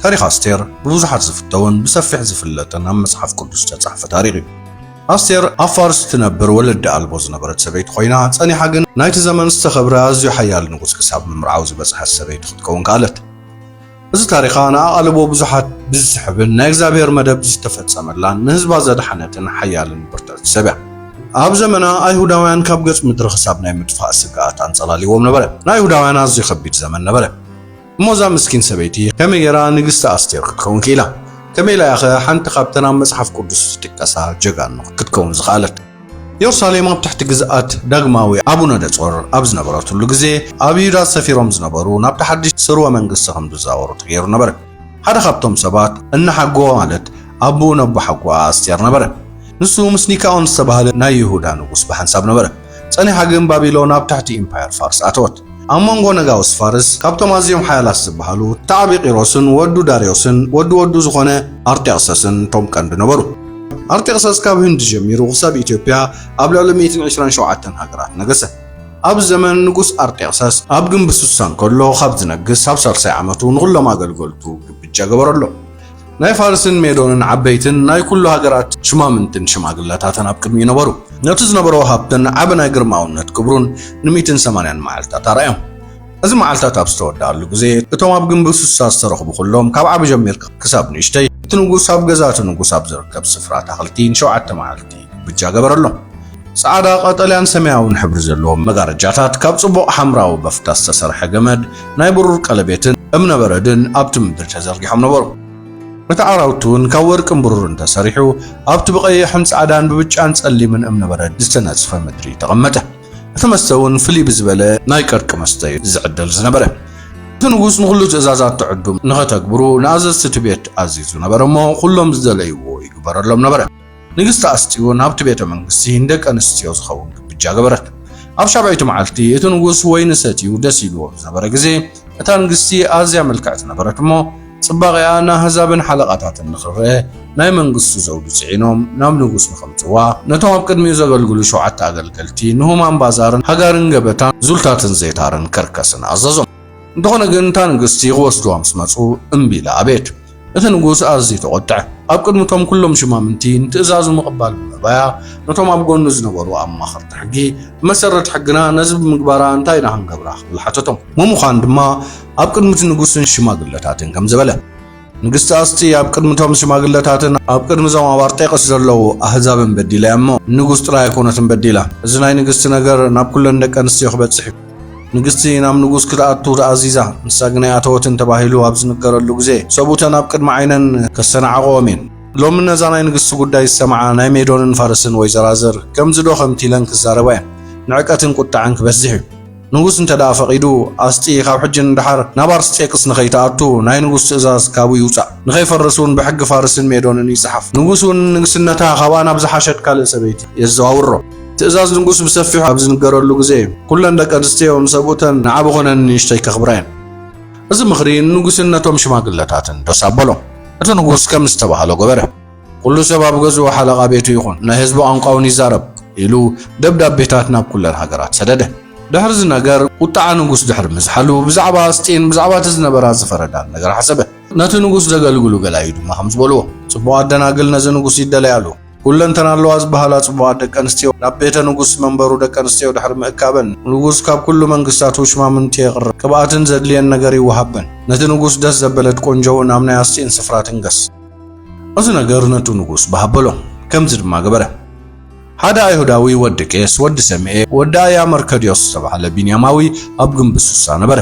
ታሪኽ ኣስቴር ብብዙሓት ዝፍተውን ብሰፊሕ ዝፍለጥን ኣብ መጽሓፍ ቅዱስ ዝተጻሕፈ ታሪኽ እዩ። ኣስቴር ኣብ ፋርስ እትነብር ወለዲ ኣልቦ ዝነበረት ሰበይቲ ኮይና ጸኒሓ ግን ናይቲ ዘመን ዝተኸብረ ኣዝዩ ሓያል ንጉስ ክሳብ ምምርዓው ዝበጽሐት ሰበይቲ ክትከውን ከኣለት። እዚ ታሪኻ ንኣቓልቦ ብዙሓት ብዝስሕብን ናይ እግዚኣብሔር መደብ ዝተፈጸመላን ንህዝባ ዘድሓነትን ሓያልን ብርትዕቲ ሰብ እያ። ኣብ ዘመና ኣይሁዳውያን ካብ ገጽ ምድሪ ክሳብ ናይ ምጥፋእ ስግኣት ኣንጸላልይዎም ነበረ። ናይ ኣይሁዳውያን ኣዝዩ ከቢድ ዘመን ነበረ። እሞ እዛ ምስኪን ሰበይቲ ከመይ ጌራ ንግስቲ ኣስቴር ክትከውን ክኢላ? ከመይ ኢላ'ያኸ ሓንቲ ካብተን ኣብ መጽሓፍ ቅዱስ ዝጥቀሳ ጀጋኑ ክትከውን ዝኸኣለት? የሩሳሌም ኣብ ትሕቲ ግዝኣት ዳግማዊ ኣቡነ ደጾር ኣብ ዝነበረትሉ ግዜ ኣብ ይሁዳ ሰፊሮም ዝነበሩ ናብቲ ሓድሽ ስርወ መንግስቲ ከም ዝዛወሩ ተገይሩ ነበረ። ሓደ ካብቶም ሰባት እነሓጎ ማለት ኣቡኡ ነቦሓጎኣ ኣስቴር ነበረ። ንሱ ምስ ኒካኦን ዝተባህለ ናይ ይሁዳ ንጉስ ብሓንሳብ ነበረ። ጸኒሓ ግን ባቢሎን ኣብ ትሕቲ ኢምፓየር ፋርስ ኣተወት። ኣብ መንጎ ነጋውስ ፋርስ ካብቶም ኣዝዮም ሓያላት ዝበሃሉ ተዓቢ ቂሮስን ወዱ ዳርዮስን ወዲ ወዱ ዝኾነ ኣርጤኽሰስን እቶም ቀንዲ ነበሩ። ኣርጤኽሰስ ካብ ህንዲ ጀሚሩ ክሳብ ኢትዮጵያ ኣብ ልዕሊ ሚእትን ዕስራን ሸውዓተን ሃገራት ነገሰ። ኣብ ዘመን ንጉስ ኣርጤኽሰስ ኣብ ግምቢ ሱሳ እንከሎ ካብ ዝነግስ ኣብ ሳልሳይ ዓመቱ ንኹሎም ኣገልገልቱ ግብጃ ገበረሎም። ናይ ፋርስን ሜዶንን ዓበይትን ናይ ኩሉ ሃገራት ሽማምንትን ሽማግለታትን ኣብ ቅድሚኡ ነበሩ። ነቲ ዝነበሮ ሃብትን ዓቢ ናይ ግርማውነት ክብሩን ንሚእትን ሰማንያን መዓልትታት ኣርኣዮም። እዚ መዓልትታት ኣብ ዝተወድኣሉ ግዜ፣ እቶም ኣብ ግምቢ ሱሳ ዝተረኽቡ ኩሎም፣ ካብ ዓቢ ጀሚርካ ክሳብ ንእሽተይ፣ እቲ ንጉስ ኣብ ገዛ እቲ ንጉስ ኣብ ዝርከብ ስፍራ ኣታኽልቲ ንሸውዓተ መዓልቲ፣ ብጃ ገበረሎም። ጻዕዳ፣ ቀጠልያን ሰማያውን ሕብሪ ዘለዎም መጋረጃታት፣ ካብ ጽቡቕ ሓምራዊ በፍታ ዝተሰርሐ ገመድ፣ ናይ ብሩር ቀለቤትን እምነ በረድን ኣብቲ ምድሪ ተዘርጊሖም ነበሩ። እቲ ዓራውቲ እውን ካብ ወርቅን ብሩርን ተሰሪሑ፣ ኣብቲ ብቐይሕን ጻዕዳን ብብጫን ጸሊምን እምነ በረድ ዝተነጽፈ ምድሪ ተቐመጠ። እቲ መስተ እውን ፍልይ ብዝበለ ናይ ቀርቂ መስተ እዩ ዝዕደል ዝነበረ። እቲ ንጉስ ንዅሉ ትእዛዛት ትዕዱም ንኸተግብሩ ንኣዘዝቲ እቲ ቤት ኣዚዙ ነበረ እሞ፣ ኵሎም ዝደለይዎ ይግበረሎም ነበረ። ንግስቲ ኣስጢ እውን ኣብቲ ቤተ መንግስቲ ንደቂ ኣንስትዮ ዝኸውን ግብጃ ገበረት። ኣብ ሻብዐይቲ መዓልቲ እቲ ንጉስ ወይኒ ሰትዩ ደስ ኢልዎ ብዝነበረ ግዜ፣ እታ ንግስቲ ኣዝያ ምልክዕቲ ነበረት እሞ፣ ጽባቐኣ ንኣህዛብን ሓለቓታትን ንኽርኤ ናይ መንግስቱ ዘውዲ ጽዒኖም ናብ ንጉስ ንኸምጽዋ፣ ነቶም ኣብ ቅድሚኡ ዘገልግሉ ሸውዓተ ኣገልገልቲ ንሁማን ባዛርን ሃጋርን ገበታን ዙልታትን ዜታርን ከርከስን ኣዘዞም። እንተኾነ ግን እታ ንግስቲ ክወስድዋ ምስ መጹ እምቢ ኢላ ኣበየት። እቲ ንጉስ ኣዝዩ ተቖጥዐ። ኣብ ቅድሚ እቶም ኵሎም ሽማምንቲ ንትእዛዙ ምቕባል ብምእባያ፣ ነቶም ኣብ ጐድኑ ዝነበሩ ኣማኸርቲ ሕጊ፣ ብመሰረት ሕግና ነዚ ብምግባራ እንታይ ኢና ክንገብራ? ክብል ሓተቶም። ምሙዃን ድማ ኣብ ቅድሚ እቲ ንጉስን ሽማግለታትን ከምዚ በለ። ንግስቲ ኣስጢ ኣብ ቅድሚ እቶም ሽማግለታትን ኣብ ቅድሚ እዞም ኣብ ኣርጤቅስ ዘለዉ ኣህዛብን በዲላ እያ እሞ፣ ንጉስ ጥራይ ኣይኰነትን በዲላ። እዚ ናይ ንግስቲ ነገር ናብ ኵለን ደቂ ኣንስትዮ ክበጽሕ እዩ። ንግስቲ ናብ ንጉስ ክትኣቱ ተኣዚዛ፣ ንሳ ግን ኣይኣተወትን ተባሂሉ ኣብ ዝንገረሉ ግዜ፣ ሰብኡተን ኣብ ቅድሚ ዓይነን ከስተናዕቕኦም እየን። ሎሚ ነዛ ናይ ንግስቲ ጉዳይ ዝሰምዓ ናይ ሜዶንን ፋርስን ወይዘራዝር፣ ከምዚዶ ከምቲ ኢለን ክዛረባ እየን። ንዕቀትን ቁጠዐን ክበዝሕ እዩ። ንጉስ እንተደኣ ፈቒዱ፣ ኣስጢ ካብ ሕጂ ንደሓር ናብ ኣርስጤቅስ ንኸይትኣቱ ናይ ንጉስ ትእዛዝ ካብኡ ይውጻእ። ንኸይፈርስ እውን ብሕጊ ፋርስን ሜዶንን ይጽሓፍ። ንጉስ እውን ንግስነታ ካብኣ ናብ ዝሓሸት ካልእ ሰበይቲ የዘዋውሮ። ትእዛዝ ንጉስ ብሰፊሑ ኣብ ዝንገረሉ ግዜ ኩለን ደቂ ኣንስትዮ ንሰብኡተን ንዓቢ ኮነ ንንእሽተይ ከኽብራ እየን። እዚ ምኽሪ ንንጉስን ነቶም ሽማግለታትን ደስ ኣበሎም። እቲ ንጉስ ከም ዝተባህሎ ገበረ። ኩሉ ሰብ ኣብ ገዝኡ ሓለቓ ቤቱ ይኹን፣ ናይ ህዝቡ ቋንቋውን ይዛረብ ኢሉ ደብዳቤታት ናብ ኩለን ሃገራት ሰደደ። ድሕሪ እዚ ነገር ቁጥዓ ንጉስ ድሕሪ ምዝሓሉ ብዛዕባ ኣስጢን ብዛዕባ እቲ ዝነበራ ዝፈረዳን ነገር ሓሰበ። ነቲ ንጉስ ዘገልግሉ ገላዩ ድማ ከም ዝበልዎ፣ ጽቡቓት ደናግል ነዚ ንጉስ ይደለያሉ። ኩለንተና ኣለዋ ዝበሃላ ጽቡቓት ደቂ ኣንስትዮ ናብ ቤተ ንጉስ መንበሩ ደቂ ኣንስትዮ ድሕሪ ምእካበን ንጉስ ካብ ኩሉ መንግስታት ውሽማምንቲ የቕርብ ቅብኣትን ዘድልየን ነገር ይወሃበን ነቲ ንጉስ ደስ ዘበለት ቆንጆ እውን ኣብ ናይ ኣስጢን ስፍራ ትንገስ እዚ ነገር ነቱ ንጉስ በሃበሎ ከምዚ ድማ ገበረ ሓደ ኣይሁዳዊ ወዲ ቄስ ወዲ ሰምኤ ወዲ ኣያ መርከድዮስ ዝተባህለ ቢንያማዊ ኣብ ግንቢ ሱሳ ነበረ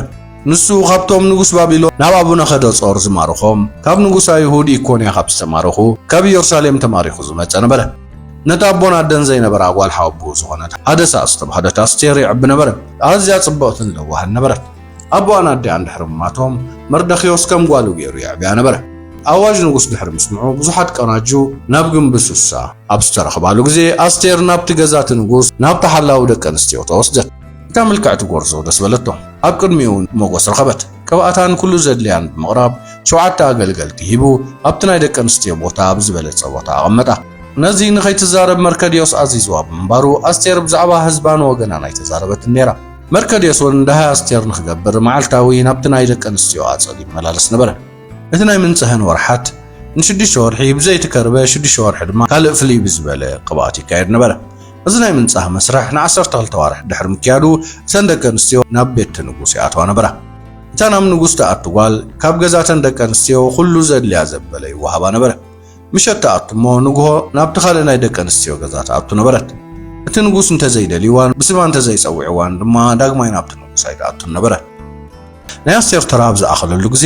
ንሱ ካብቶም ንጉስ ባቢሎን ናብ ኣቡነከደጾር ዝማርኾም ካብ ንጉስ ኣይሁድ ኢኮንያ ካብ ዝተማረኹ ካብ ኢየሩሳሌም ተማሪኹ ዝመጸ ነበረ። ነታ ኣቦን ኣደን ዘይነበራ ጓል ሓወቦኡ ዝኾነት ሃደሳ ዝተባህለት ኣስቴር ይዕቢ ነበረ። ኣዝያ ጽብቕትን ለዋህን ነበረት። ኣቦኣን ኣዲኣን ድሕሪ ምማቶም መርደክዮስ ከም ጓሉ ገይሩ የዕብያ ነበረ። ኣዋጅ ንጉስ ድሕሪ ምስምዑ ብዙሓት ቀናጁ ናብ ግምቢ ሱሳ ኣብ ዝተረኽባሉ ግዜ ኣስቴር ናብቲ ገዛ እቲ ንጉስ ናብቲ ሓላዊ ደቂ ኣንስትዮ ተወስደት። እታ ምልክዕቲ ጎርዞ ደስ በለቶ። ኣብ ቅድሚኡ ሞጎስ ረኸበት። ቅብኣታን ኩሉ ዘድልያን ብምቕራብ ሸውዓተ ኣገልገልቲ ሂቡ ኣብቲ ናይ ደቂ ኣንስትዮ ቦታ ኣብ ዝበለጸ ቦታ ኣቐመጣ። ነዚ ንኸይትዛረብ መርከድዮስ ኣዚዝዋ ብምንባሩ ኣስቴር ብዛዕባ ህዝባን ወገናን ኣይተዛረበትን ነይራ። መርከድዮስ እውን ደሃይ ኣስቴር ንኽገብር መዓልታዊ ናብቲ ናይ ደቂ ኣንስትዮ ኣጸድ ይመላለስ ነበረ። እቲ ናይ ምንጽህን ወርሓት ንሽዱሽተ ወርሒ ብዘይቲ ከርበ ሽዱሽተ ወርሒ ድማ ካልእ ፍልይ ብዝበለ ቅብኣት ይካየድ ነበረ። እዚ ናይ ምንጻህ መስርሕ ንዓሰርተ ክልተ ኣዋርሕ ድሕሪ ምክያዱ፣ እተን ደቂ ኣንስትዮ ናብ ቤት'ቲ ንጉስ ይኣትዋ ነበራ። እታ ናብ ንጉስ ትኣቱ ጓል፣ ካብ ገዛ'ተን ደቂ ኣንስትዮ ኹሉ ዘድልያ ዘበለ ይወሃባ ነበረ። ምሸት ትኣቱ እሞ ንግሆ ናብ'ቲ ካልእ ናይ ደቂ ኣንስትዮ ገዛ ትኣቱ ነበረት። እቲ ንጉስ እንተዘይደልይዋን ብስማ እንተዘይጸዊዕዋን ድማ ዳግማይ ናብ'ቲ ንጉስ ኣይትኣቱን ነበረት። ናይ ኣስቴር ተራ ኣብ ዝኣኸለሉ ግዜ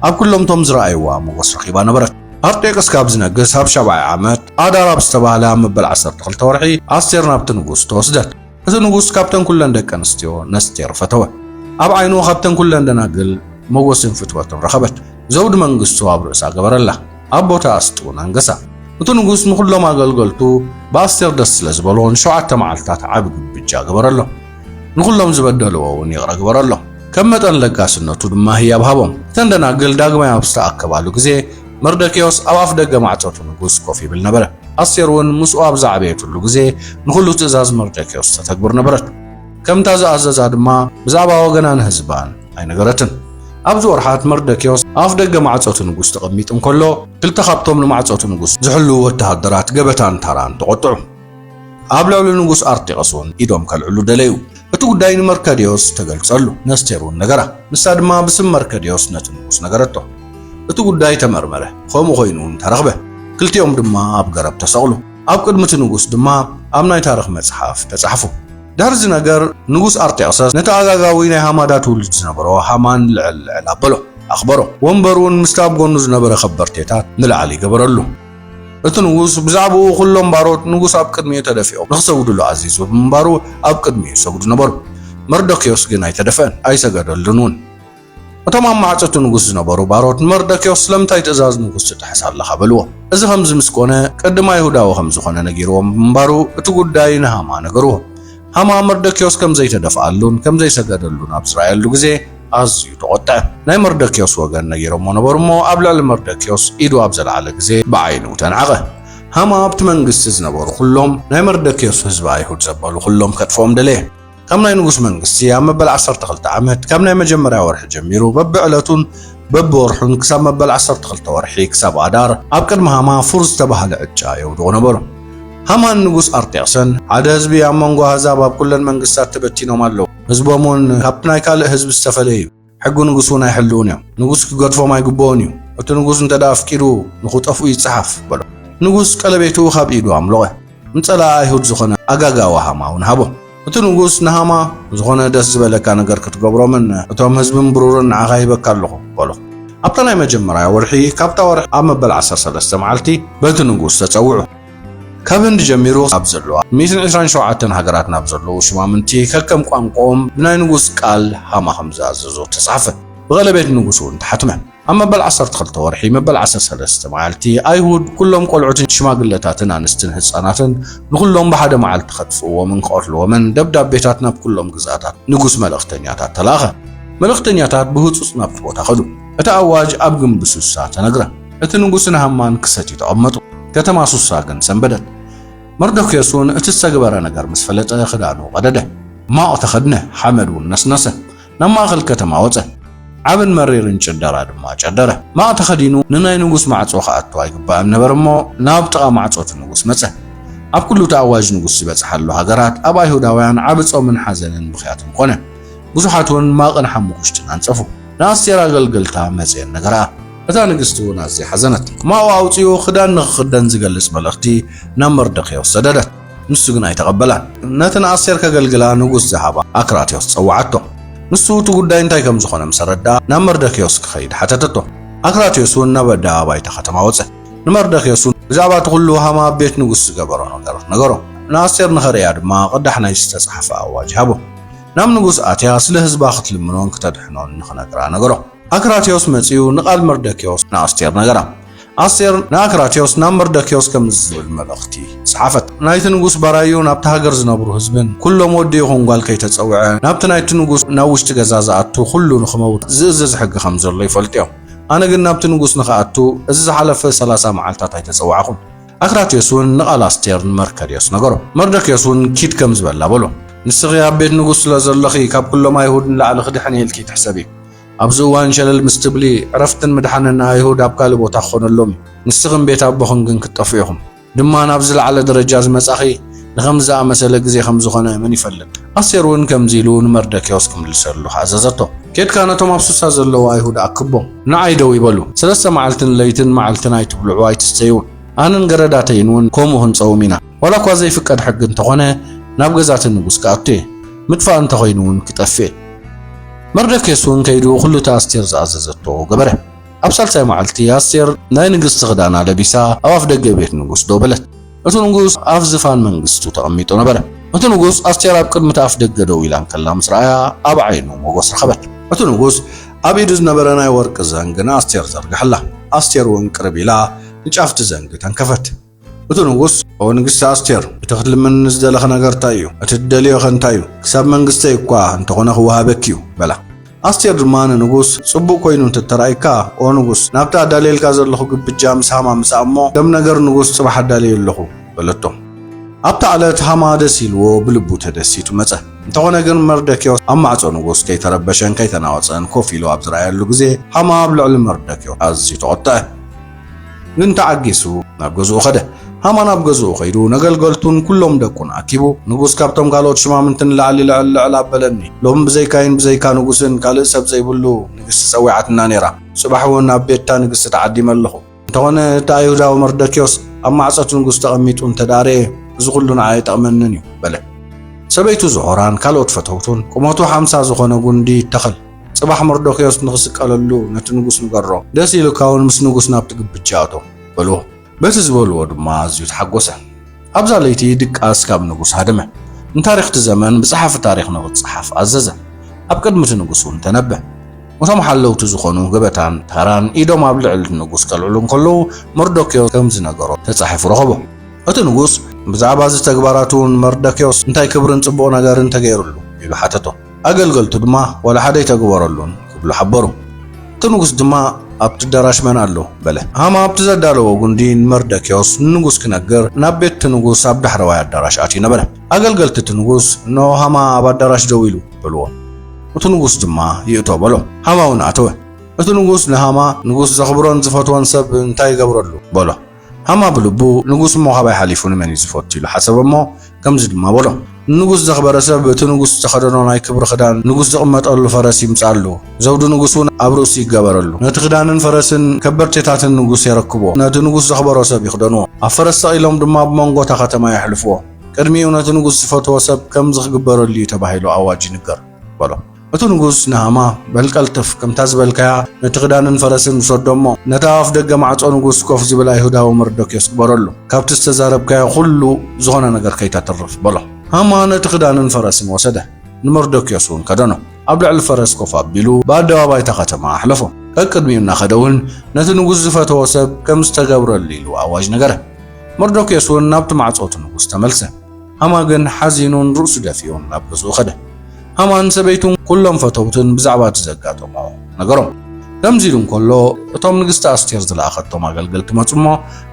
ኣብ ኩሎም እቶም ዝረኣይዋ ሞጎስ ረኺባ ነበረት። ኣርጤክስ ካብ ዝነግስ ኣብ ሻብዓይ ዓመት፣ ኣዳር ኣብ ዝተባህለ ኣብ መበል ዓሰርተ ክልተ ወርሒ፣ ኣስቴር ናብቲ ንጉስ ተወስደት። እቲ ንጉስ ካብተን ኩለን ደቂ ኣንስትዮ ነስቴር ፈተወ። ኣብ ዓይኑ ካብተን ኩለን ደናግል ሞጎስን ፍትወትን ረኸበት። ዘውዲ መንግስቱ ኣብ ርእሳ ገበረላ። ኣብ ቦታኣ ኣስጢውን ኣንገሳ። እቲ ንጉስ ንኹሎም ኣገልገልቱ ብኣስቴር ደስ ስለ ዝበሎ ንሸውዓተ መዓልታት ዓቢ ግብጃ ገበረሎም። ንኹሎም ዝበደልዎ እውን ይቕረ ግበረሎም፣ ከም መጠን ለጋስነቱ ድማ ህያብ ሃቦም። እተን ደናግል ዳግማይ ኣብ ዝተኣከባሉ ግዜ፣ መርደክዮስ ኣብ ኣፍ ደገ ማዕጾ እቲ ንጉስ ኮፍ ይብል ነበረ። ኣስቴር እውን ምስኡ ኣብ ዝዓበየትሉ ግዜ፣ ንኹሉ ትእዛዝ መርደክዮስ ተተግብር ነበረት። ከምታ ዝኣዘዛ ድማ ብዛዕባ ወገናን ህዝባን ኣይነገረትን። ኣብዚ ወርሓት መርደክዮስ ኣፍ ደገ ማዕጾ እቲ ንጉስ ተቐሚጡ እንከሎ፣ ክልተ ካብቶም ንማዕጾ እቲ ንጉስ ዝሕልዉ ወተሃደራት ገበታን ታራን ተቖጥዑ። ኣብ ልዕሊ ንጉስ ኣርጤቐስውን ኢዶም ከልዕሉ ደለዩ። እቲ ጉዳይ ንመርከድዮስ ተገልጸሉ፣ ነስቴርውን ነገራ። ንሳ ድማ ብስም መርከድዮስ ነቲ ንጉስ ነገረቶ። እቲ ጉዳይ ተመርመረ፣ ኸምኡ ኾይኑውን ተረኽበ። ክልቲኦም ድማ ኣብ ገረብ ተሰቕሉ፣ ኣብ ቅድሚ እቲ ንጉስ ድማ ኣብ ናይ ታርኽ መጽሓፍ ተጻሕፉ። ድሕሪ እዚ ነገር ንጉስ ኣርጤቕሰስ ነቲ ኣጋጋዊ ናይ ሃማዳ ትውልድ ዝነበሮ ሃማን ልዕል ልዕል ኣበሎ፣ ኣኽበሮ። ወንበሩውን ምስቲ ኣብ ጎኑ ዝነበረ ኸበርቴታት ንላዕሊ ገበረሉ። እቲ ንጉስ ብዛዕባኡ ዅሎም ባሮት ንጉስ ኣብ ቅድሚኡ ተደፊኦም ንኽሰግዱሉ ኣዚዙ ብምንባሩ ኣብ ቅድሚኡ ይሰግዱ ነበሩ። መርዶክዮስ ግን ኣይተደፍአን፣ ኣይሰገደሉን እውን። እቶም ኣብ ማዕጾ እቲ ንጉስ ዝነበሩ ባሮት ንመርዶክዮስ ስለምንታይ ትእዛዝ ንጉስ ትጥሕስ ኣለኻ? በልዎ። እዚ ኸምዚ ምስ ኰነ፣ ቅድም ኣይሁዳዊ ኸም ዝዀነ ነጊርዎም ብምንባሩ፣ እቲ ጕዳይ ንሃማ ነገርዎ። ሃማ መርዶክዮስ ከም ዘይተደፍኣሉን ከም ዘይሰገደሉን ኣብ ዝረኣየሉ ግዜ ኣዝዩ ተቖጥዐ። ናይ መርዶክዮስ ወገን ነጊሮሞ ነበሩ እሞ ኣብ ልዕሊ መርዶክዮስ ኢዱ ኣብ ዘልዓለ ግዜ ብዓይኑ ተናዕቐ። ሃማ ኣብቲ መንግስቲ ዝነበሩ ዅሎም ናይ መርዶክዮስ ህዝቢ ኣይሁድ ዘበሉ ዅሎም ከጥፍኦም ደለየ። ካብ ናይ ንጉስ መንግስቲ ኣብ መበል ዓሰርተ ክልተ ዓመት ካብ ናይ መጀመርያ ወርሒ ጀሚሩ በብዕለቱን በብወርሑን ክሳብ መበል ዓሰርተ ክልተ ወርሒ ክሳብ ኣዳር ኣብ ቅድሚ ሃማ ፉር ዝተባህለ ዕጫ የውድቑ ነበሩ። ሃማን ንጉስ ኣርጤክሰን ሓደ ህዝቢ ኣብ መንጎ ኣህዛብ ኣብ ኩለን መንግስታት ተበቲኖም ኣለዉ፣ ህዝቦም እውን ካብቲ ናይ ካልእ ህዝቢ ዝተፈለየ እዩ፣ ሕጊ ንጉስ እውን ኣይሕልዉን እዮም፣ ንጉስ ክገድፎም ኣይግብኦን እዩ፣ እቲ ንጉስ እንተ ኣፍቂዱ ንኽጠፍኡ ይጸሓፍ በሎ። ንጉስ ቀለቤቱ ካብ ኢዱ ኣምሎቐ፣ ንጸላኢ ኣይሁድ ዝዀነ ኣጋጋዊ ሃማ እውን ሃቦ። እቲ ንጉስ ንሃማ ዝኾነ ደስ ዝበለካ ነገር ክትገብሮምን እቶም ህዝብን ብሩርን ንዓኻ ሂበካ ኣለኹ በሎ። ኣብታ ናይ መጀመርያ ወርሒ ካብታ ወርሒ ኣብ መበል ዓሰርተ ሰለስተ መዓልቲ በቲ ንጉስ ተጸውዑ። ካብ ህንዲ ጀሚሩ ኣብ ዘለዋ ሚእትን ዕስራን ሸውዓተን ሃገራት ናብ ዘለዉ ሹማምንቲ ከከም ቋንቋኦም ብናይ ንጉስ ቃል ሃማ ከም ዝኣዘዞ ተጻሕፈ። ብቐለቤት ንጉስ እውን ተሓትመ። ኣብ መበል ዓሰርተ ክልተ ወርሒ መበል ዓሰርተ ሰለስተ መዓልቲ ኣይሁድ ኩሎም ቆልዑትን ሽማግለታትን ኣንስትን ህጻናትን ንኹሎም ብሓደ መዓልቲ ከጥፍእዎምን ክቐትልዎምን ደብዳቤታት ናብ ኩሎም ግዝኣታት ንጉስ መልእኽተኛታት ተላእኸ። መልእኽተኛታት ብህጹጽ ናብቲ ቦታ ከዱ። እቲ ኣዋጅ ኣብ ግንቢ ሱሳ ተነግረ። እቲ ንጉስን ሃማን ክሰትዩ ተቐመጡ። ከተማ ሱሳ ግን ሰንበደት። መርዶክዮስ እውን እቲ ዝተግበረ ነገር ምስ ፈለጠ ክዳኑ ቀደደ፣ ማቕ ተኸድነ፣ ሓመድ እውን ነስነሰ። ናብ ማእኸል ከተማ ወፀ። ዓብን መሪርን ጭደራ ድማ ጨደረ። ማቕ ተኸዲኑ ንናይ ንጉስ ማዕፆ ክኣቱ ኣይግባእን ነበረ እሞ ናብ ጥቓ ማዕፆ እቲ ንጉስ መፀ። ኣብ ኩሉ እቲ ኣዋጅ ንጉስ ዝበፅሓሉ ሃገራት ኣብ ኣይሁዳውያን ዓቢ ፆምን ሓዘንን ብኽያትን ኮነ። ብዙሓት እውን ማቕን ሓሙኽሽትን ኣንፀፉ። ንኣስቴር ኣገልገልታ መፅየን ነገርኣ። እታ ንግስቲ እውን ኣዝያ ሓዘነት። ማቑ ኣውፂኡ ክዳን ንኽኽደን ዝገልፅ መልእኽቲ ናብ መርደክዮስ ሰደደት። ንሱ ግን ኣይተቐበላን። ነቲ ንኣስቴር ከገልግላ ንጉስ ዝሃባ ኣክራትዮስ ጸውዓቶ። ንሱ እቲ ጉዳይ እንታይ ከም ዝዀነ ምስ ኣረድኣ፣ ናብ መርደክዮስ ክኸይድ ሓተተቶ። ኣክራትዮስ እውን ናብ ኣደባባይ እታ ኸተማ ወጸ። ንመርደክዮስ እውን ብዛዕባ እቲ ዅሉ ሃማ ኣብ ቤት ንጉስ ዝገበሮ ነገራት ነገሮ። ንኣስቴር ንኸርእያ ድማ ቕዳሕ ናይ ዝተጻሕፈ ኣዋጅ ሃቦ። ናብ ንጉስ ኣትያ ስለ ህዝባ ኽትልምኖን ክተድሕኖን ንኽነግራ ነገሮ። ኣክራትዮስ መጺኡ ንቓል መርደክዮስ ንኣስቴር ነገራ። ኣስቴር ንኣክራትዮስ ናብ መርደክዮስ ከምዚ ዝብል መልእኽቲ ጸሓፈት፣ ናይቲ ንጉስ ባራዩ ናብታ ሃገር ዝነብሩ ህዝብን ኵሎም ወዲ ይኹን ጓል ከይተጸውዐ ናብቲ ናይቲ ንጉስ ናብ ውሽጢ ገዛ ዝኣቱ ዅሉ ንኽመውት ዝእዝዝ ሕጊ ኸም ዘሎ ይፈልጡ እዮም። ኣነ ግን ናብቲ ንጉስ ንኽኣቱ እዚ ዝሓለፈ ሰላሳ መዓልትታት ኣይተጸዋዕኹን። ኣክራትዮስ እውን ንቓል ኣስቴር ንመርከርዮስ ነገሮ። መርደክዮስ እውን ኪድ ከምዚ በላ በሎ፣ ንስኺ ኣብ ቤት ንጉስ ስለ ዘሎኺ ካብ ኵሎም ኣይሁድ ንላዕሊ ኽድሕን እየ ኢልኪ ትሕሰቢ። ኣብዚ እዋን ሸለል ምስ ትብሊ ዕረፍትን ምድሓንን ንኣይሁድ ኣብ ካልእ ቦታ ክኾነሎም እዩ። ንስኽን ቤት ኣቦኽን ግን ክትጠፍኡ ኢኹም። ድማ ናብ ዝለዓለ ደረጃ ዝመጻኺ ንኸምዚ ዝኣመሰለ ግዜ ከም ዝኾነ መን ይፈልጥ። ኣስቴር እውን ከምዚ ኢሉ ንመርደክዮስ ክምልሰሉ ኣዘዘቶ። ኬድካ ነቶም ኣብ ሱሳ ዘለዉ ኣይሁድ ኣክቦም። ንዓይ ደው ይበሉ። ሰለስተ መዓልትን ለይትን መዓልትን ኣይትብልዑ ኣይትስተዩን። ኣነን ገረዳተይን እውን ከምኡ ክንጸውም ኢና። ዋላ እኳ ዘይፍቀድ ሕጊ እንተኾነ ናብ ገዛ እቲ ንጉስ ክኣቱ እየ። ምጥፋእ እንተ ዀይኑ እውን ኪጠፍእ እዩ። መርዶክዮስ እውን ከይዱ ዅሉ እቲ ኣስቴር ዝኣዘዘቶ ገበረ። ኣብ ሳልሳይ መዓልቲ ኣስቴር ናይ ንግስቲ ክዳና ለቢሳ ኣብ ኣፍ ደገ ቤት ንጉስ ደው በለት። እቲ ንጉስ ኣብ ዝፋን መንግስቱ ተቐሚጡ ነበረ። እቲ ንጉስ ኣስቴር ኣብ ቅድሚ እቲ ኣፍ ደገ ደው ኢላ እንከላ ምስ ረኣያ ኣብ ዓይኑ ሞገስ ረኸበት። እቲ ንጉስ ኣብ ኢዱ ዝነበረ ናይ ወርቂ ዘንግ ንኣስቴር ዘርግሐላ። ኣስቴር እውን ቅርብ ኢላ ንጫፍ እቲ ዘንግ ተንከፈት። እቲ ንጉስ ኦ ንግስቲ ኣስቴር እቲ ክትልምኒ ዝደለኺ ነገር እንታይ እዩ እቲ ትደልዮ ኸ እንታይ እዩ ክሳብ መንግስተይ እኳ እንተኾነ ክወሃበኪ እዩ በላ ኣስቴር ድማ ንንጉስ ጽቡቕ ኮይኑ እንተተራእይካ ኦ ንጉስ ናብቲ ኣዳልየልካ ዘለኹ ግብጃ ምስ ሃማ ምጻእ እሞ ከም ነገር ንጉስ ጽባሕ ኣዳልየ ኣለኹ በለቶ ኣብታ ዕለት ሃማ ደስ ኢልዎ ብልቡ ተደሲቱ መጸ እንተኾነ ግን መርደኪዮስ ኣብ ማዕጾ ንጉስ ከይተረበሸን ከይተናወጸን ኮፍ ኢሉ ኣብ ዝረኣየሉ ግዜ ሃማ ኣብ ልዕሊ መርደኪዮስ ኣዝዩ ተቖጥዐ ግን ተዓጊሱ ናብ ገዝኡ ኸደ። ሃማን ኣብ ገዝኡ ኸይዱ ነገልገልቱን ኵሎም ደቁን ኣኪቡ፣ ንጉስ ካብቶም ካልኦት ሽማምንቲ ንላዕሊ ልዕል ልዕል ኣበለኒ። ሎሚ ብዘይካይን ብዘይካ ንጉስን ካልእ ሰብ ዘይብሉ ንግስቲ ጸዊዓትና ነይራ። ጽባሕውን ኣብ ቤት'ታ ንግስቲ ተዓዲመ ኣለኹ። እንተኾነ እቲ ኣይሁዳዊ መርዶክዮስ ኣብ ማዕጾ'ቲ ንጉስ ተቐሚጡ እንተ ደኣ ርእየ፣ እዚ ዅሉ ንዓይ ኣይጠቕመንን እዩ በለ። ሰበይቱ ዝሖራን ካልኦት ፈተውቱን ቍመቱ ሓምሳ ዝዀነ ጕንዲ ይተኸል። ጽባሕ መርዶክዮስ ንኽስቀለሉ ነቲ ንጉስ ንገሮ፣ ደስ ኢሉካ እውን ምስ ንጉስ ናብቲ ግብጃ እቶ በልዎ። በቲ ዝበልዎ ድማ ኣዝዩ ተሓጎሰ። ኣብዛ ለይቲ ድቃስ ካብ ንጉስ ሃደመ። ንታሪኽ እቲ ዘመን ብጸሓፊ ታሪኽ ንኽጸሓፍ ኣዘዘ። ኣብ ቅድሚ እቲ ንጉስ እውን ተነበ። እቶም ሓለውቲ ዝኾኑ ገበታን ታራን ኢዶም ኣብ ልዕሊ እቲ ንጉስ ከልዕሉ እንከለዉ መርዶክዮስ ከም ዝነገሮ ተጻሒፉ ረኸቦ። እቲ ንጉስ ብዛዕባ እዚ ተግባራቱ ንመርዶክዮስ እንታይ ክብርን ጽቡቕ ነገርን ተገይሩሉ? ኢሉ ሓተቶ። ኣገልገልቱ ድማ ዋላ ሓደ ኣይተገበረሉን ክብሉ ሓበሩ። እቲ ንጉስ ድማ ኣብቲ ኣዳራሽ መን ኣሎ? በለ። ሃማ ኣብቲ ዘዳለዎ ጉንዲ ንመርደክዮስ ንንጉስ ክነግር ናብ ቤት እቲ ንጉስ ኣብ ዳሕረዋይ ኣዳራሽ ኣትዩ ነበረ። ኣገልገልቲ እቲ ንጉስ እንሆ ሃማ ኣብ ኣዳራሽ ደው ኢሉ በልዎ። እቲ ንጉስ ድማ ይእቶ በሎ። ሃማውን ኣተወ። እቲ ንጉስ ንሃማ ንጉስ ዘኽብሮን ዝፈትዎን ሰብ እንታይ ይገብረሉ? በሎ። ሃማ ብልቡ ንጉስ እሞ ካባይ ሓሊፉ ንመን እዩ ዝፈቱ ኢሉ ሓሰበ እሞ ከምዚ ድማ በሎ ንንጉስ ዘኽበረ ሰብ እቲ ንጉስ ዝተኸደኖ ናይ ክብሪ ክዳን ንጉስ ዝቕመጠሉ ፈረስ ይምጻሉ ዘውዲ ንጉስ እውን ኣብ ርእሱ ይገበረሉ ነቲ ክዳንን ፈረስን ከበርቴታትን ንጉስ የረክብዎ ነቲ ንጉስ ዘኽበሮ ሰብ ይኽደንዎ ኣብ ፈረስ ሰቒሎም ድማ ብመንጎ እታ ከተማ የሕልፍዎ ቅድሚኡ ነቲ ንጉስ ዝፈትዎ ሰብ ከምዚ ክግበረሉ እዩ ተባሂሉ ኣዋጅ ይንገር በሎ እቲ ንጉስ ንሃማ፣ በል ቀልጥፍ፣ ከምታ ዝበልካያ ነቲ ክዳንን ፈረስን ውሰዶ እሞ፣ ነቲ ኣብ ኣፍደገ ማዕጾ ንጉስ ኮፍ ዚብል ኣይሁዳዊ መርዶክዮስ ግበረሉ። ካብቲ ዝተዛረብካዮ ዅሉ ዝዀነ ነገር ከይተትርፍ፣ በሎ። ሃማ ነቲ ክዳንን ፈረስን ወሰደ፣ ንመርዶክዮስ እውን ከደኖ። ኣብ ልዕሊ ፈረስ ኮፍ ኣቢሉ ብኣደባባይ እታ ኸተማ ኣሕለፎ። ቀቅድሚኡ እናኸደ እውን ነቲ ንጉስ ዝፈተዎ ሰብ ከም ዝተገብረሉ ኢሉ ኣዋጅ ነገረ። መርዶክዮስ እውን ናብቲ ማዕጾ እቲ ንጉስ ተመልሰ። ሃማ ግን ሓዚኑን ርእሱ ደፊኡን ናብ ገዝኡ ከደ። ሃማን ሰበይቱን ኩሎም ፈተውትን ብዛዕባ እቲ ዘጋጠሞ ነገሮም። ከምዚ ኢሉ እንከሎ እቶም ንግስቲ ኣስቴር ዝለኣኸቶም ኣገልገልቲ መጹ እሞ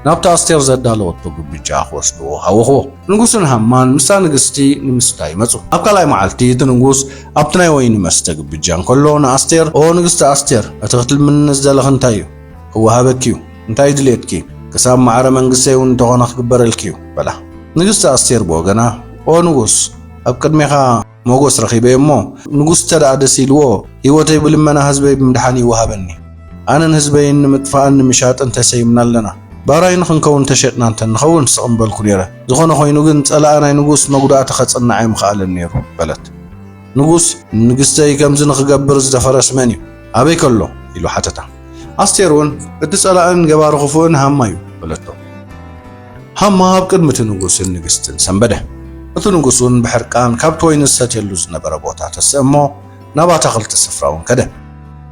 ናብቲ ኣስቴር ዘዳለወቶ ግብጃ ክወስድዎ ሃወኽዎ። ንጉስን ሃማን ምስታ ንግስቲ ንምስታይ መጹ። ኣብ ካልኣይ መዓልቲ እቲ ንጉስ ኣብቲ ናይ ወይኒ መስተ ግብጃ እንከሎ ንኣስቴር ኦ ንግስቲ ኣስቴር እቲ ክትልምኒ ዝደለኺ እንታይ እዩ? እወሃበኪ'ዩ፣ እንታይ ድልየትኪ? ክሳብ ማዕረ መንግስተይ'ውን እንተኾነ ክግበረልኪ'ዩ፣ በላ። ንግስቲ ኣስቴር ብወገና፣ ኦ ንጉስ፣ ኣብ ቅድሜኻ ሞጎስ ረኺበ'የ'ሞ፣ ንጉስ እንተደኣ ደስ ኢልዎ፣ ህይወተይ ብልመና ህዝበይ ብምድሓን ይወሃበኒ። ኣነን ህዝበይን ንምጥፋእን ንምሻጥን ተሰይምና ኣለና። ባራዩ ንኽንከውን ተሸጥና እንተ ንኸውን ስቕ ምበልኩ ነይረ። ዝኾነ ኮይኑ ግን ጸላኢ ናይ ንጉስ መጉዳእቲ ከጽንዓ'ዩ ምኽኣለን ነይሩ፣ በለት። ንጉስ፣ ንንግስተይ ከምዚ ንኽገብር ዝደፈረስ መን እዩ? ኣበይ ከሎ? ኢሉ ሓተታ። ኣስቴር እውን፣ እቲ ጸላእን ገባሪ ክፉእን ሃማ እዩ፣ በለቶ። ሃማ ኣብ ቅድሚ እቲ ንጉስን ንግስትን ሰንበደ። እቲ ንጉስ እውን ብሕርቃን ካብቲ ወይኒ ዝሰትየሉ ዝነበረ ቦታ ተስእ እሞ ናብ ኣታኽልቲ ስፍራ እውን ከደ።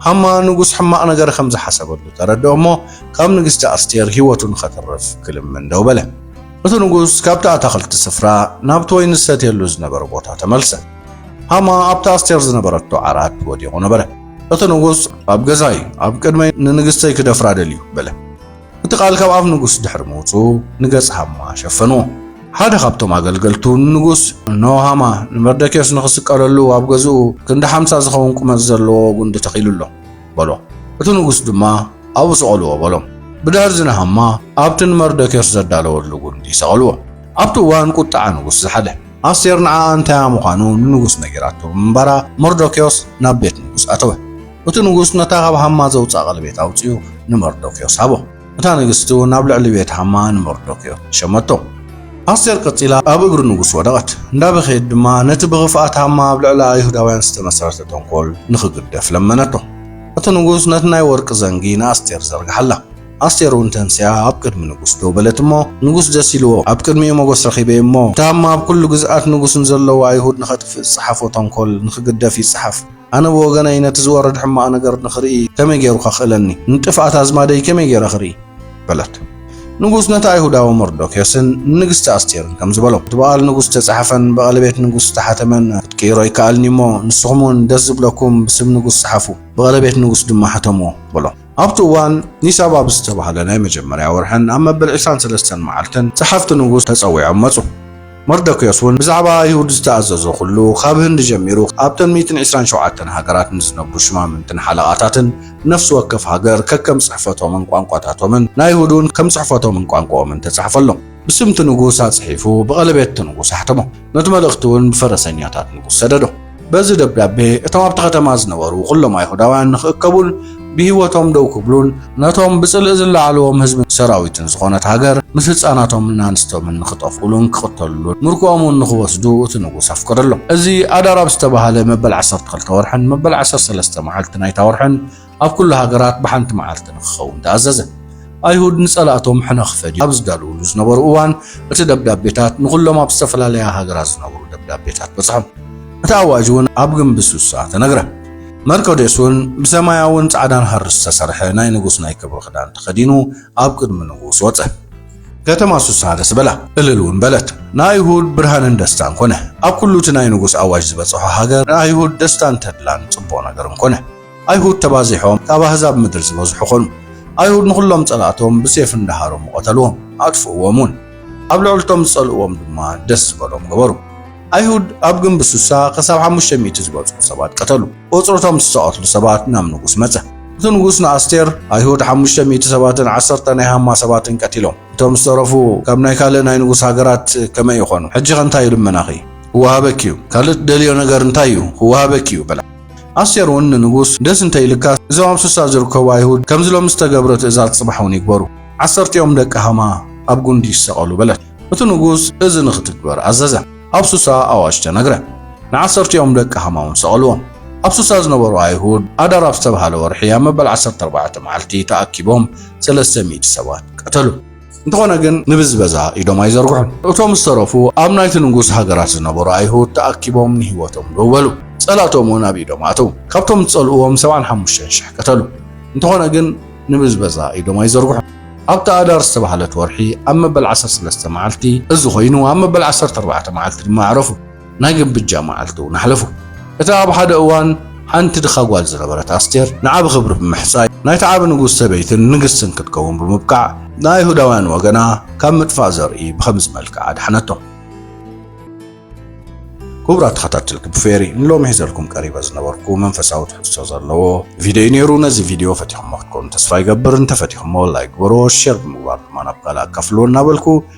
ሃማ ንጉስ ሕማቕ ነገር ከም ዝሓሰበሉ ተረድኦ እሞ ካብ ንግስቲ ኣስቴር ህይወቱ ንኸትርፍ ክልምን ደው በለ። እቲ ንጉስ ካብቲ ኣታኽልቲ ስፍራ ናብቲ ወይኒ ዝሰትየሉ ዝነበረ ቦታ ተመልሰ። ሃማ ኣብቲ ኣስቴር ዝነበረቶ ዓራት ወዲቑ ነበረ። እቲ ንጉስ ኣብ ገዛይ ኣብ ቅድመይ ንንግስተይ ክደፍራ ደልዩ በለ። እቲ ቃል ካብ ኣፍ ንጉስ ድሕሪ ምውጹ ንገጽ ሃማ ሸፈንዎ። ሓደ ካብቶም ኣገልገልቱ ንንጉስ እኖ ሃማ ንመርደኬዎስ ንኽስቀለሉ ኣብ ገዝኡ ክንዲ ሓምሳ ዝኸውን ቁመት ዘለዎ ጉንዲ ተኺሉ ኣሎ። በሎ። እቲ ንጉስ ድማ ኣብኡ ሰቐልዎ በሎም። ብድሕርዚ ንሃማ ኣብቲ ንመርዶክዮስ ዘዳለወሉ ጕንዲ ሰቐልዎ። ኣብቲ እዋን ቍጥዓ ንጉስ ዝሓለ። ኣስቴር ንዓኣ እንታያ ምዃኑ ንንጉስ ነጊራቶ ብምንባራ፣ መርዶክዮስ ናብ ቤት ንጉስ ኣተወ። እቲ ንጉስ ነታ ኻብ ሃማ ዘውጽኣ ቐለቤት ኣውጺኡ ንመርዶክዮስ ሃቦ። እታ ንግስቲ እውን ኣብ ልዕሊ ቤት ሃማ ንመርዶክዮ ሸመቶ። ኣስቴር ቀጺላ ኣብ እግሪ ንጉስ ወደቐት፣ እንዳበኸየት ድማ ነቲ ብኽፍኣት ሃማ ኣብ ልዕሊ ኣይሁዳውያን ዝተመሰረተ ተንኮል ንኽግደፍ ለመነቶ። እቲ ንጉስ ነቲ ናይ ወርቂ ዘንጊ ንኣስቴር ዘርግሓላ። ኣስቴር እውን ተንሲኣ ኣብ ቅድሚ ንጉስ ደው በለት እሞ ንጉስ ደስ ኢልዎ ኣብ ቅድሚኡ መጎስ ረኺበ እሞ እቲ ሃማ ኣብ ኩሉ ግዝኣት ንጉስ ንዘለዉ ኣይሁድ ንኸጥፍእ ዝጸሓፎ ተንኮል ንኽግደፍ ይጸሓፍ ኣነ ብወገነይ ነቲ ዝወርድ ሕማቕ ነገር ንኽርኢ ከመይ ገይሩ ከኽእለኒ? ንጥፍኣት ኣዝማደይ ከመይ ገይረ ክርኢ? በለት። ንጉስ ነቲ ኣይሁዳዊ መርዶክዮስን ንንግስቲ ኣስቴርን ከምዚ በሎም፣ እቲ ብቓል ንጉስ ዝተጻሕፈን ብቐለቤት ንጉስ ዝተሓተመን ክትቅይሮ ይከኣልኒ እሞ፣ ንስኹምውን ደስ ዝብለኩም ብስም ንጉስ ጽሓፉ፣ ብቐለቤት ንጉስ ድማ ሕተምዎ፣ በሎም። ኣብቲ እዋን ኒሳብ ኣብ ዝተባህለ ናይ መጀመርያ ወርሕን ኣብ መበል ዕስራን ሰለስተን መዓልትን ጸሓፍቲ ንጉስ ተጸዊዖም መጹ። መርዶክዮስ እውን ብዛዕባ ኣይሁድ ዝተኣዘዞ ዅሉ፣ ኻብ ህንዲ ጀሚሩ ኣብተን ሚእትን ዕስራን ሸውዓተን ሃገራት ንዝነብሩ ሽማምንትን ሓለቓታትን፣ ንነፍሲ ወከፍ ሃገር ከከም ጽሕፈቶምን ቋንቋታቶምን፣ ንኣይሁድ እውን ከም ጽሕፈቶምን ቋንቋኦምን ተጻሕፈሎም። ብስም እቲ ንጉስ ኣጽሒፉ ብቐለቤት እቲ ንጉስ ኣሕተሞ። ነቲ መልእኽቲ እውን ብፈረሰኛታት ንጉስ ሰደዶ። በዚ ደብዳቤ እቶም ኣብቲ ከተማ ዝነበሩ ኩሎም ኣይሁዳውያን ንኽእከቡን ብህይወቶም ደው ክብሉን ነቶም ብጽልእ ዝለዓልዎም ህዝብን ሰራዊትን ዝኾነት ሃገር ምስ ህፃናቶምን ኣንስቶምን ንኽጠፍኡሉን ክቕተሉሉን ምርኮኦም እውን ንኽወስዱ እቲ ንጉስ ኣፍቀደሎም። እዚ ኣዳር ኣብ ዝተባህለ መበል ዓሰርተ ክልተ ወርሕን መበል ዓሰርተ ሰለስተ መዓልቲ ናይታ ወርሕን ኣብ ኩሉ ሃገራት ብሓንቲ መዓልቲ ንክኸውን ተኣዘዘ። ኣይሁድ ንጸላእቶም ሕነ ክፈድዩ ኣብ ዝዳለዉሉ ዝነበሩ እዋን፣ እቲ ደብዳቤታት ንኹሎም ኣብ ዝተፈላለያ ሃገራት ዝነበሩ ደብዳቤታት በጽሖም። እቲ ኣዋጅ እውን ኣብ ግምቢ ሱሳ ተነግረ። መርቆዴዎስ እውን ብሰማያውን ጻዕዳን ሃሪ ዝተሰርሐ ናይ ንጉስ ናይ ክብሪ ክዳን ተኸዲኑ ኣብ ቅድሚ ንጉስ ወጸ። ከተማ ሱሳ ደስ በላ፣ እልል እውን በለት። ንኣይሁድ ብርሃንን ደስታን ኮነ። ኣብ ኩሉ እቲ ናይ ንጉስ ኣዋጅ ዝበጽሖ ሃገር ንኣይሁድ ደስታን ተድላን ጽቡቕ ነገርን ኮነ። ኣይሁድ ተባዚሖም ካብ ኣህዛብ ምድሪ ዝበዝሑ ኮኑ። ኣይሁድ ንኹሎም ጸላእቶም ብሴፍ እንዳ ሃረሙ ቐተልዎም፣ ኣጥፍእዎም ውን። ኣብ ልዕሊ እቶም ዝጸልእዎም ድማ ደስ ዝበሎም ገበሩ። ኣይሁድ ኣብ ግንብ ሱሳ ክሳብ ሓሙሽተ ሚእቲ ዝበጽሑ ሰባት ቀተሉ። ቁጽሪ እቶም ዝተቐትሉ ሰባት ናብ ንጉስ መጸ። እቲ ንጉስ ንኣስቴር፣ ኣይሁድ ሓሙሽተ ሚእቲ ሰባትን ዓሰርተ ናይ ሃማ ሰባትን ቀቲሎም፣ እቶም ዝተረፉ ካብ ናይ ካልእ ናይ ንጉስ ሃገራት ከመይ ይኾኑ? ሕጂኸ እንታይ ልመናኺ ክወሃበኪ እዩ? ካልእ ትደልዮ ነገር እንታይ እዩ? ክወሃበኪ እዩ በላ። ኣስቴር እውን ንንጉስ ደስ እንተ ኢልካ እዞም ኣብ ሱሳ ዝርከቡ ኣይሁድ ከምዚ ሎሚ ዝተገብረ ትእዛዝ ጽባሕ እውን ይግበሩ፣ ዓሰርቲኦም ደቂ ሃማ ኣብ ጕንዲ ይሰቐሉ በለት። እቲ ንጉስ እዚ ንኽትግበር ኣዘዘ፣ ኣብ ሱሳ ኣዋጅ ተነግረ፣ ንዓሰርቲኦም ደቂ ሃማ እውን ሰቐልዎም። ኣብ ሱሳ ዝነበሩ ኣይሁድ ኣዳር ኣብ ዝተብሃለ ወርሒ ኣብ መበል ዓሰርተ ኣርባዕተ መዓልቲ ተኣኪቦም ሰለስተ ሚእቲ ሰባት ቀተሉ። እንተኾነ ግን ንብዝበዛ ኢዶም ኣይዘርግሑን። እቶም ዝተረፉ ኣብ ናይቲ ንጉስ ሃገራት ዝነበሩ ኣይሁድ ተኣኪቦም ንህይወቶም ደው በሉ፣ ጸላእቶም እውን ኣብ ኢዶም ኣተዉ። ካብቶም ዝጸልእዎም ሰብዓን ሓሙሽተን ሽሕ ቀተሉ፣ እንተኾነ ግን ንብዝበዛ ኢዶም ኣይዘርግሑን። ኣብታ ኣዳር ዝተባህለት ወርሒ ኣብ መበል ዓሰርተ ሰለስተ መዓልቲ እዚ ኮይኑ፣ ኣብ መበል ዓሰርተ ኣርባዕተ መዓልቲ ድማ ኣዕረፉ። ናይ ግምብጃ መዓልቲ እውን ኣሕለፉ። እታ ኣብ ሓደ እዋን ሓንቲ ድኻ ጓል ዝነበረት ኣስቴር ንዓቢ ክብሪ ብምሕጻይ ናይቲ ዓቢ ንጉስ ሰበይትን ንግስትን ክትከውን ብምብቃዕ ንኣይሁዳውያን ወገና ካብ ምጥፋእ ዘርኢ ብኸምዚ መልክዕ ኣድሓነቶም። ክቡራት ተኸታተልቲ ብፌሪ ንሎሚ ሒዘልኩም ቀሪበ ዝነበርኩ መንፈሳዊ ትሕዝቶ ዘለዎ ቪድዮ ነይሩ። ነዚ ቪድዮ ፈቲኹሞ ክትከኑ ተስፋ ይገብር። እንተፈቲኹሞ ላይክ ግበርዎ፣ ሼር ብምግባር ድማ ናብ ካልእ ኣካፍልዎ እናበልኩ